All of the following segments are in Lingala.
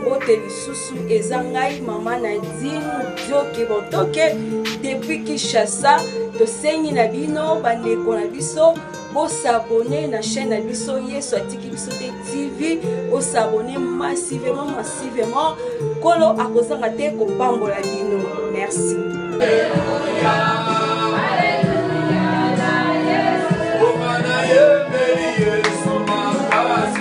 mbote lisusu eza ngai mama na dine dioke botoke depuis kinshasa tosengi na bino bandeko na biso bosabone na chaîne na biso yesu atiki biso te tv bosabone massivement massivement nkolo akozanga te kopambola bino merci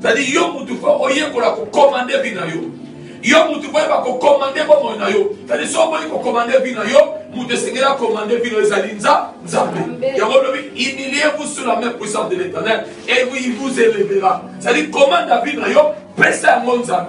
Tadi yo mutu fo oyekola kokomande vi na yo yo mutu fo oyeba kokomande bomoi na yo tadi so oboyi kokomande vi na yo mutu esengeli akomande vi na yo ezali nza nzambe yango lobi humilie vous sur la main puissante de l'éternel et vous il vous élevera tadi komanda vi na yo pesa yango nzambe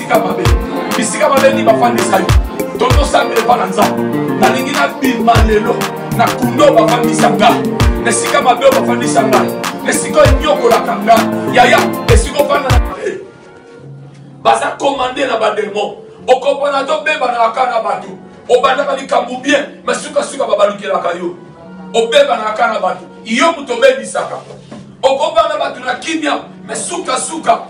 bisika mabe bisika mabe nini bafandisa yo totosambela epa na nzambe nalingi nabima lelo na kundo bafandisa nga na esika mabe oyo bafandisa nga na esika oyo enyokolaka nga yaya esika ofanda na baza komande na bademo okopona tobebanaka kaka na bato obandaka likambo bien me sukasuka babalukelaka yo obebanaka kaka na bato yo moto obebisaka okobana bato na kimia me sukasuka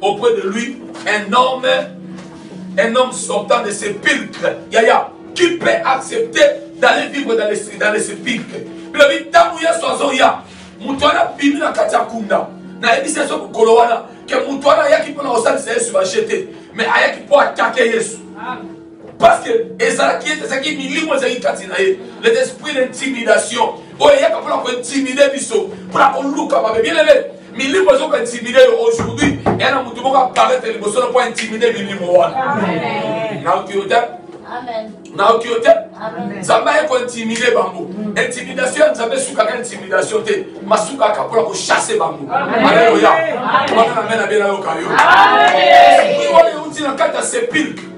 auprès de lui un homme, un homme sortant de sépulcre. Yaya, qui peut accepter d'aller vivre dans les, dans les sépulcres bilobi ntango yesu azoya moto wana abimi na kati ya kunda nayebisi yesu mokolo wana ke moto wana ayaki mpo na kosalisa yesu baje te mais ayaki mpo atake yesu parce que ezalaki ete ezalaki milimo ezalaki kati na ye les esprits d'intimidation oyo eyaka mpona kointimide biso mpona koluka mabe bielele milimo ezo kointimide yo aujourd'hui eya na motu moko aparete liboso na mpo aintimide milimo wana nayoki yo te nayoki yo te nzambe aye kointimide bango intimidation ya nzambe esukaka intimidation te masukaka mpona kochasse bango aleluya wana na mena bie nayoka yo esprit oyo euti na kati ya sepilke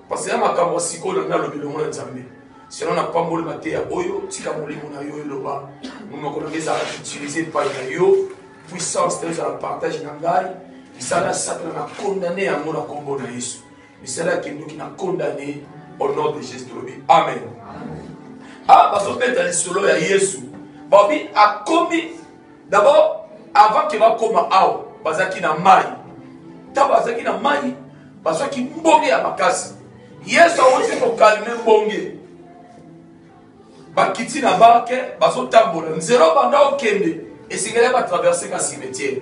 Pasi ya makambo ya sikoyo na ngai alobi longo na Nzambe. Sino na pamboli mateya oyo, tika molimo na yo eloba. Monoko na ngai ezala utilize epai na yo. Puissance na yo ezala partage na ngai. Misala ya satana na condamne yango na kombo na Yesu. Misala ya kindoki na condamne au nom de Jésus tolobi. Amen. Amen. Ah, bazobeta lisolo ya Yesu. Babi akomi d'abord avant ke bakoma awa bazalaki na mai ntango bazalaki na mai bazwaki mbonge ya makasi yesu awuti kokalme mbonge bakiti na barke bazotambola nzela obanda okende esengeli batraverse ka cimetiere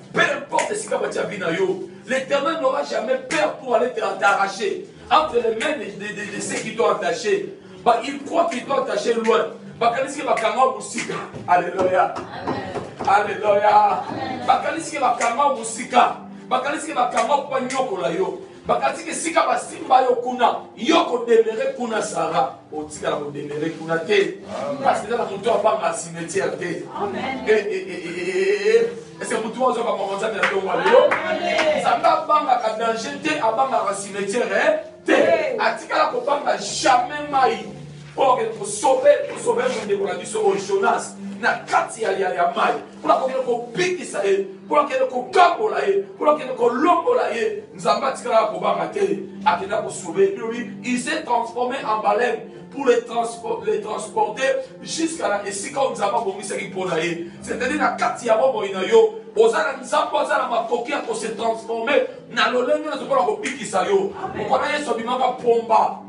Peu importe esika batia vie na yo, l'Éternel n'aura jamais peur pour aller t'arracher entre les mains de, de, de, de ceux qui t'ont attaché. Bah, il croit qu'il t'ont attaché loin. bakanisi ke bakanga yo mosika alleluya alleluya bakanisi ke bakanga yo mosika bakanisi ke bakanga yo mpo banyokola yo Bakati ke sika basimba yo kuna, yo ko demeurer kuna Sarah, otikala ko demeurer kuna te. Parce que na mutu abanga cimetière te. Amen. Eh eh eh eh eh. eh, eh. Est-ce que mutu ozo ba konza na tongo lelo? Samba banga ka danger te, abanga ka cimetière eh? te. Atikala ko banga jamais mai. Pour que pour sauver, pour sauver mon décollage au Jonas na kati ya ya mai. mpo na kokende kobikisa ye mpo akende kokabola ye mpo akende kolongola ye nzambe atikalaka kobanga te akenda kosobe ye bilobi il s'est transformé en baleine pour les, transpor les transporter jusqu'à na esika oyo nzambe abongisaki mpo na ye c'est-à-dire na kati ya bomoi na yo oza na nzambe aza na makoki ya kose transforme na lolenge na zokola kobikisa yo mokona yesu abimaka pomba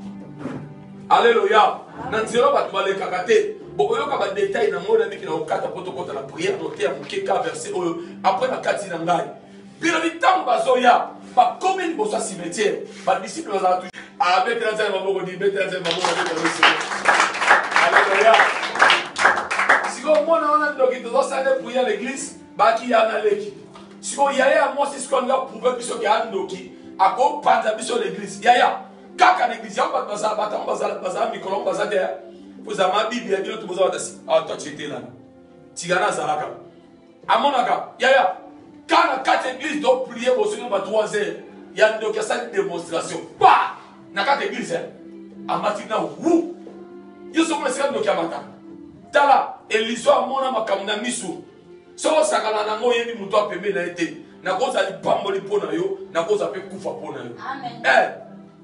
Alléluia. Na nzela bato balekaka te. Bokoyoka ba détails na ngona miki na okata poto kota na prière note ya muke ka verset oyo après na kati na ngai. Bino bitango bazoya ba komi liboso ya cimetière. Ba disciples bazala tu. Ah betela nzela maboko di betela nzela maboko betela nzela. Alléluia. Siko mona wana ndoki tozo sala prière l'église baki ya na leki. Siko yaya ya mwasi siko nga prouver biso ke andoki akopanza biso l'église. Yaya kaka na eglise yango bato bazala bato yango bazala bazala mikolo yango baza te ozama biblia bino to boza batasi ato acetelana tikana azalaka amonaka yaya kana kati eglise to prie bosoki ba 3 heures ya ndoki asali démonstration pa na kati eglise amati na wu yo sokomona esika ndoki amataka tala eliso amona makambo na miso soki osakana nango oyebi moto ya pembe na ye te nakozala lipamboli mpo na yo nakozala mpe kufa mpo na yo eh,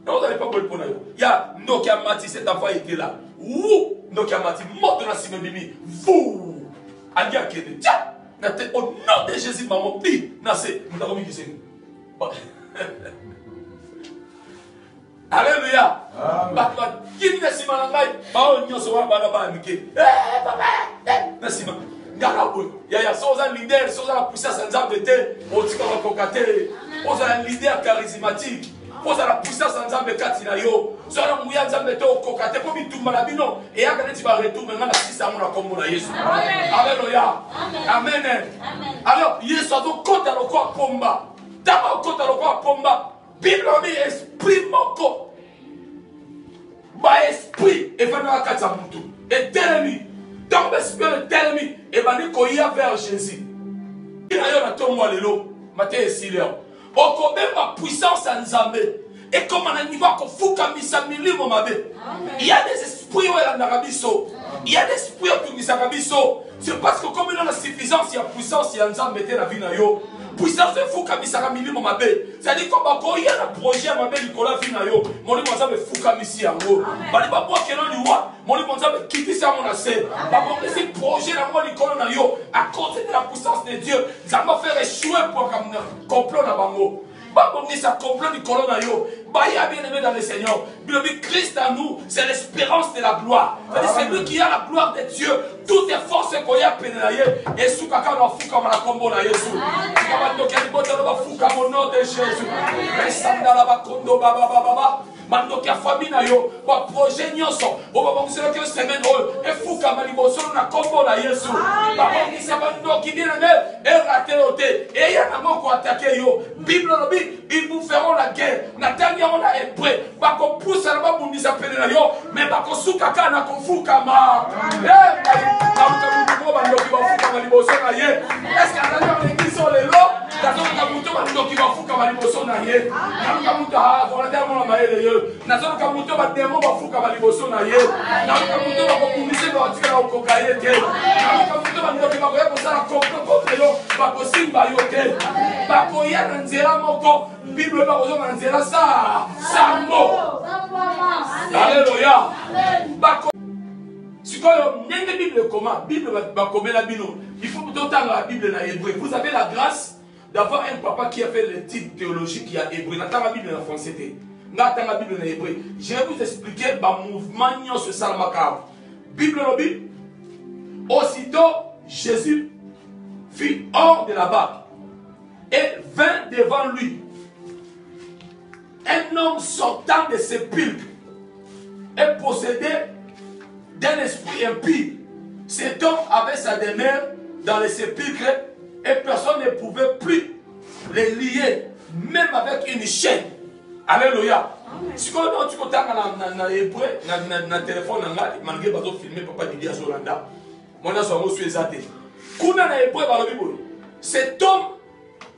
nakozala lipamboli mpo na yo ya ndoki ya mati se tafa etela wu ndoki ya mati moto na nsima ebimi vu ali akende tia na te au nom de jésus mamo bi na se moto akomi kisengi Alléluia. Bato bakimi na nsima na ngai baoyo nyonso wana bana bana mike eh, papa eh, na nsima ngaka boye yaya so oza leader so oza na puissance ya nzambe te otika bakoka te ozala leader charismatique ozala puissance ya nzambe kati na yo so na nguya nzambe te okoka te mpo bitumba na bino eyaka neti baretour me ngai nasisa yango na nkombo na yesu aleluya amen alors yesu azokota lokola pomba ntango akota lokola pomba bible alobi esprit moko baesprit efandaka kati ya motu etelemi ntango baesprit oyo etelemi ebandi koya vers jésus na yo na ntongo ya lelo mateya esili yao okobemba puissance ya nzambe ekoma na niveau ya kofukamisa milimo mabe ya des esprits oyo elandaka biso ya des esprits oyo etungisaka biso c'est parce que okomi na suffisance ya puissance ya nzambe te na vie na yo puissance efukamisaka milimo mabe Zali ko bakoya na projet ya mabe likolo ya vie na yo molimo nzambe efukamisi yango bali babwakelo liwa molimo nzambe ekitisi yango na se babongisi projet na yango likolo na yo à cause de la puissance de dieu nzambe afere echouer programme complot na bango babongisa complot likolo na yo baya bien aimé dans le seigneur bilobi christ à nous c'est l'espérance de la gloire c'est lui qui a la gloire de dieu toute force ekoya pene na ye esukaka bafukama na nkombo na yesu tika bandoki ya libota na bafukama au nom de jésus esandala bakondo bababababa mandoki ya fami na yo baprojet nyonso oyo babongiselaki yo semaine oyo efukama liboso na nkombo na yesu babongisa bandoki nini nde erate yo te eya nango koatake yo bible olobi ils vous feront la guerre natangi yango na hebreu bakopusana babundisa pene na yo me bakosuka kaka na kofukama nauta motu moko bandoki bafukama liboso na ye eske azali yango ekiso lelo nazoluka moto bandoki bafukama liboso na ye naluka moto volontaire mona mayele ye nazoluka moto ba demon bafukama liboso na ye naluka moto bakobundisa ye bakotikala kokoka ye te naluka moto bandoki bakoya kosala kokokote yo bakosimba yo te bakoya na nzela moko bible bakozonga na nzela sa sango aleluya sikoyo ndenge bible ekoma bible bakomela bino il faut totanga bible na hebreu vous avez la grâce d'avoir un papa qui a fait l'étude théologique ya hébreu natanga bible na français te nga atanga bible na hébreu je vais vous expliquer bamouvement nyonso esalamaka awa bible olobi aussitôt jésus fut hors de la barque et vint devant lui Un homme sortant de sépulcre est possédé d'un esprit impie. Cet homme avait sa demeure dans le sépulcre et personne ne pouvait plus les lier, même avec une chaîne. Alléluia. sikoyo nao ti kotanga na hébreu na telefone na ngai malgré bazofilme papa didi azolanda mwana so yango su eza te kuna na hébreu balobi boye cet homme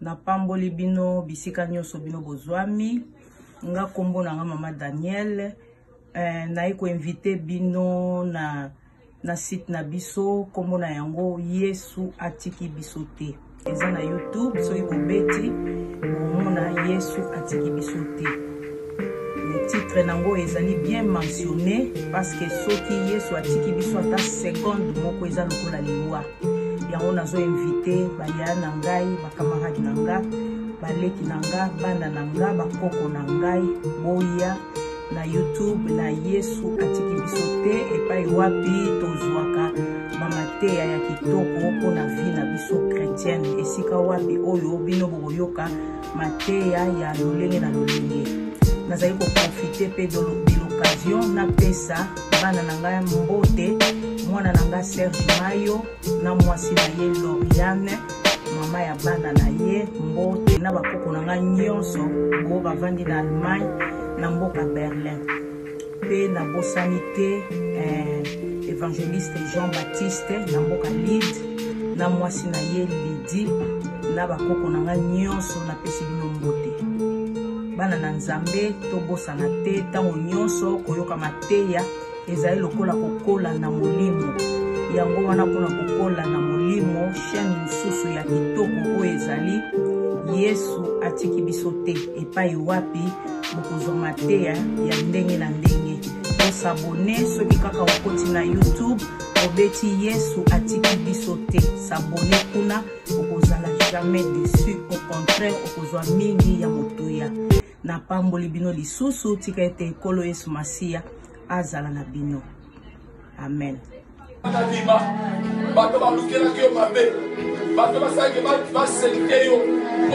napamboli bino bisika nyonso bino bozwami nga nkombo na nga mama daniel eh, naye koinvite bino na, na site na biso nkombo na yango yesu atiki biso te eza na youtube soki bobeti bomona yesu atiki biso te le titre nango ezali bien mentionne parce que soki yesu atiki biso ata seconde moko eza lokola liwa yango nazo invite baya na ngai bakamarade na nga baleki na nga bana na nga bakoko na ngai boya na youtube na yesu atiki biso te epai wapi tozwaka bamateya ya kitoko mpo na vi na biso kretiene esika wapi oyo bino bokoyoka mateya ya lolenge na lolenge nazali koprofite mpe de l'occasion napesa bana na ngai mbote mwana na ngai serge mayo na mwasi na ye loriane mama ya bana na ye mbote na bakoko na ngai nyonso bo bavandi na allemagne na mboka berlin mpe nabosani te eh, evangeliste jean baptiste na mboka lide na mwasi na ye lidi na bakoko na ngai nyonso napesi bino mbote bana na nzambe tobosana te ntango nyonso koyoka mateya ezali lokola kokola na molimo yango wana mpona kokola na molimo chaine mosusu ya kitoko oyo ezali yesu atiki biso te epai wapi bokozwa mateya ya ndenge na ndenge osabone soki kaka okoti na youtube obeti yesu atiki biso te sabone kuna okozala jamais deçu au contraire okozwa mingi ya motuya napamboli bino lisusu tika ete ekolo yesu masiya azala na bino amen nalima bato balukelaki yo mabe bato basalaki baselike yo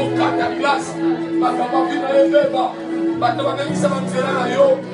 okata glase makambo akina ebeba bato babebisa banzela na yo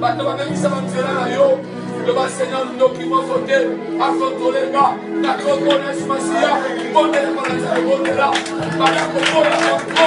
bato babebisa banzela na yo loba seigneur ndoki moko te akontrole nga na kombo na yesu masiya bondela balanza ebondela baya kobola bango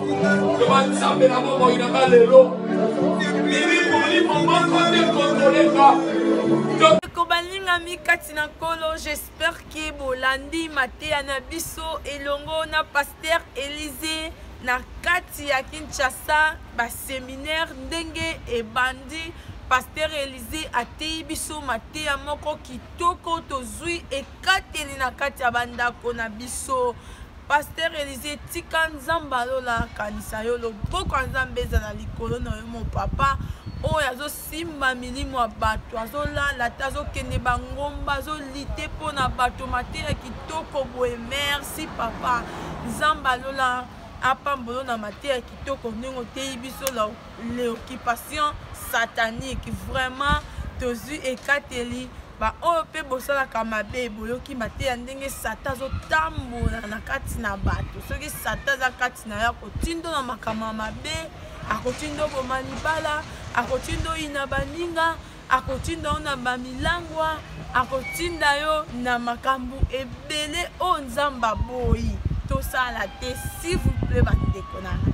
Loba Nzambe na bomoi na nga lelo. Bibi poli moboko te kokoleka. Ndeko balingami kati na nkolo j'espère ke bolandi mateya na biso elongo na paster elise na kati ya kinshasa baseminaire ndenge ebandi paster elise ateyi biso mateya moko kitoko tozwi ekateli na kati ya bandako na biso Pasteur Elise tika nzambe alola akanisa yo loboko ya nzambe ezala likolo na yo mo papa oyo azosimba milimo ya bato azolala te azokende bangomba azolite mpo na bato mateya kitoko boye merci papa nzambe alola apambolo na mateya kitoko ndenge oteyi biso l'occupation satanique vraiment tozwi ekateli baoyo mpe bosalaka mabe boyoki mateya ndenge satan azotambola na kati na bato soki satan aza kati na yo akotindo na makambo ya mabe akotindo boma libala akotindo ina baninga akotinda yo na bamilangwa akotinda yo na makambo ebele oyo nzambe aboyi tosala te s'il vous plaît bandeko na ngai